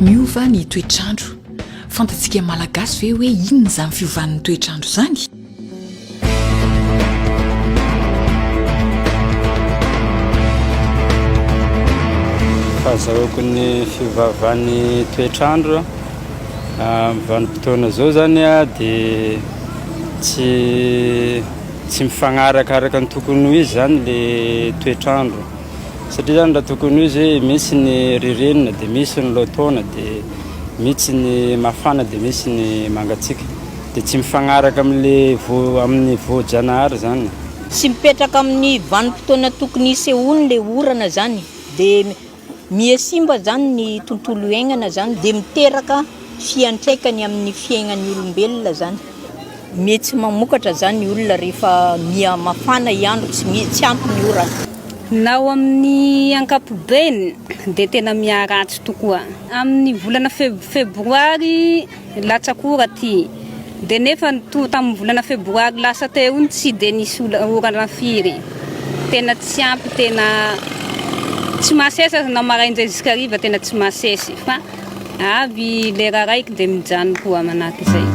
Miova ny toetr'andro. Fantatsika Malagasy ve hoe inona izany fiovan'ny toetr'andro izany? Fahazahoako ny fiovaovan'ny toetr'andro amin'ny vanim-potoana izao zany dia tsy tsy mifagnaraka araka ny tokony ho izy zany le toetr'andro satria zany raha tokony ho izy hoe misy ny ririnina dia misy ny lotaona dia misy ny mafana dia misy ny mangatsiaka Dia tsy mifagnaraka amin'ilay vo, amin'ny voa-janahary izany e. Tsy mipetraka amin'ny vanim-potoana tokony hisehoany ilay orana izany, dia mihasimba izany ny tontolo iaignana izany, dia miteraka fiantraikany amin'ny fiaignan'ny olombelona izany. Miha tsy mamokatra izany ny olona rehefa miha mafana i andro, tsy miha tsy ampy ny orana. Na ao amin'ny ankapobeny dia tena miharatsy tokoa. Amin'ny volana feb, febroary. Latsaka ora ty. Dia nefa toa tamin'ny volana febroary lasa teo iny tsy dia nisy orana firy. Tena tsy ampy tena tsy masesy aza na maraindray zisk'hariva tena tsy masesy fa avy lera raiky dia mijano koa manahaka izay.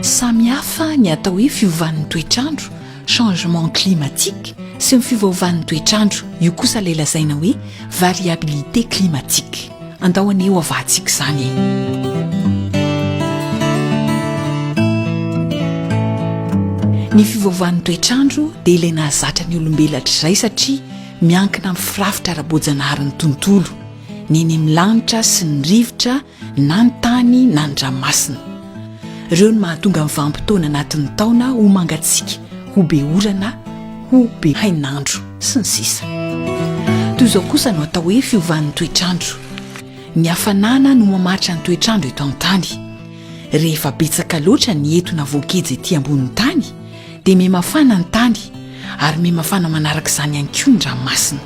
Samy hafa ny atao hoe fiovan'ny toetr'andro. changement climatique, sy ny fiovaovan'ny toetr'andro, io kosa ilay lazaina hoe variabilité climatique. Andao anie ho avahantsika izany e! Ny fiovaovan'ny toetr'andro dia ilay nahazatra ny olombelona hatr'izay satria miankina amin'ny firafitra ara-boajanaharin'ny tontolo, ny eny amin'ny lanitra sy ny rivotra na ny tany na ny ranomasina. Ireo no mahatonga ny vanim-potoana anatin'ny taona ho mangatsiaka, ho be orana, ho be hainandro, sy ny sisa Toy izao kosa no atao hoe fiovan'ny toetrandro. Ny hafanana no mamaritra ny toetrandro eto an-tany. Rehefa betsaka loatra ny etona voageja ety ambonin'ny tany dia mihamafana ny tany ary mihamafana manaraka izany ihany koa ny ranomasina.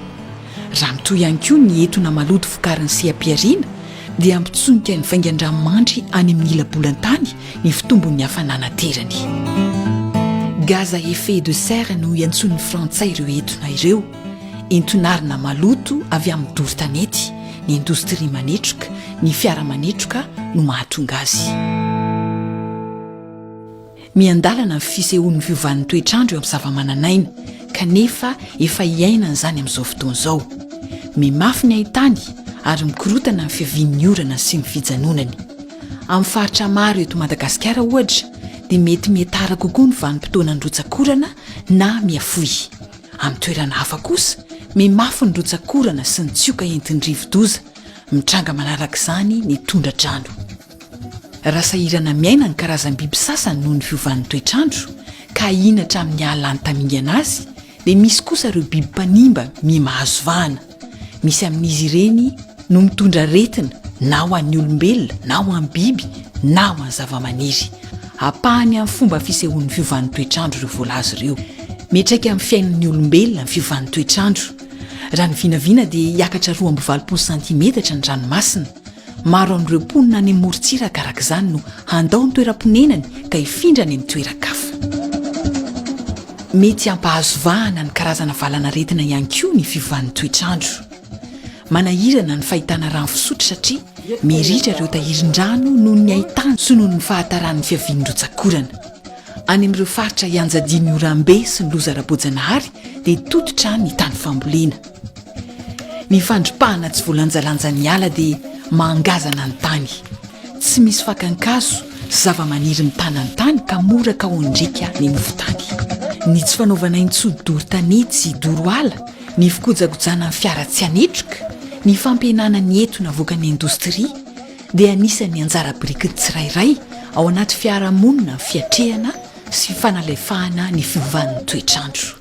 Raha mitohy ihany koa ny etona maloto vokarin'ny seha-pihariana dia hampitsonika ny vaingan-dranomandry any amin'ny ila-bolantany ny fitombon'ny hafanana aterany. Gaz à effet de serre no iantsoan'ny frantsay ireo etona ireo. Enton'arina maloto avy amin'ny doro tanety, ny indostria manetroka, ny fiara manetroka no mahatonga azy. Miandalana ny fisehoan'ny fiovan'ny toetr'andro eo amin'ny zavamananaina, kanefa efa iainana izany amin'izao fotoana izao. Mimafy ny haintany ary mikorotana ny fiavian'ny orana sy ny fijanonany. Amin'ny faritra maro eto Madagasikara, ohatra, dia mety mihatara kokoa ny vanim-potoanan'ny rotsakorana na mihafohy. Amin'ny toerana hafa kosa, mimafy ny rotsakorana sy ny tsioka entin'ny rivo-doza, mitranga manarak'izany ny tondra-drano. Raha sahirana miaina ny karazam-biby sasany noho ny fiovan'ny toetr'andro, ka ahiana hatramin'ny hahalany tamingana azy, dia misy kosa ireo biby mpanimba miha mahazo vahana. Misy amin'izy ireny no mitondra aretina na ho an'ny olombelona na ho an'ny biby na ho an'ny zavamaniry. Ampahany amin'ny fomba fisehoan'ny fiovan'ny toetr'andro ireo voalaza ireo. Miantraika amin'ny fiainan'ny olombelona ny fiovan'ny toetr'andro. Raha ny vinavina dia hiakatra roa amby valopolo santimetatra ny ranomasina. Maro amin'ireo mponina any amorontsiraka araka izany no handao ny toeram-ponenany ka hifindra any amin'ny toeran-kafa. Mety hampahazo vahana ny karazana valanaretina ihany koa ny fiovan'ny toetr'andro. Manahirana ny fahitana rano fisotro satria miritra ireo tahirin-drano noho ny haintany sy noho ny fahataran'ny fiavian'ny rotsak'orana. Any amin'ireo faritra ianjadian'ny oram-be sy ny loza ara-boajanahary dia tototra ny tany fambolena. Ny fandripahana tsy voalanjalanjan'ny ala dia mahangazana ny tany. Tsy misy fakan-kazo sy zavamaniry mitana ny tany ka mora kaohin-driaka ny nofon-tany. Ny tsy fanaovana intsony doro tanety sy doro ala, ny fikojakojana ny fiara tsy anetroka, ny fampihenana ny entona avoakan'ny indostria dia anisan'ny anjara birikin'ny tsirairay ao anaty fiarahamonina amin'ny fiatrehana sy fanalefahana ny fiovan'ny toetr'andro.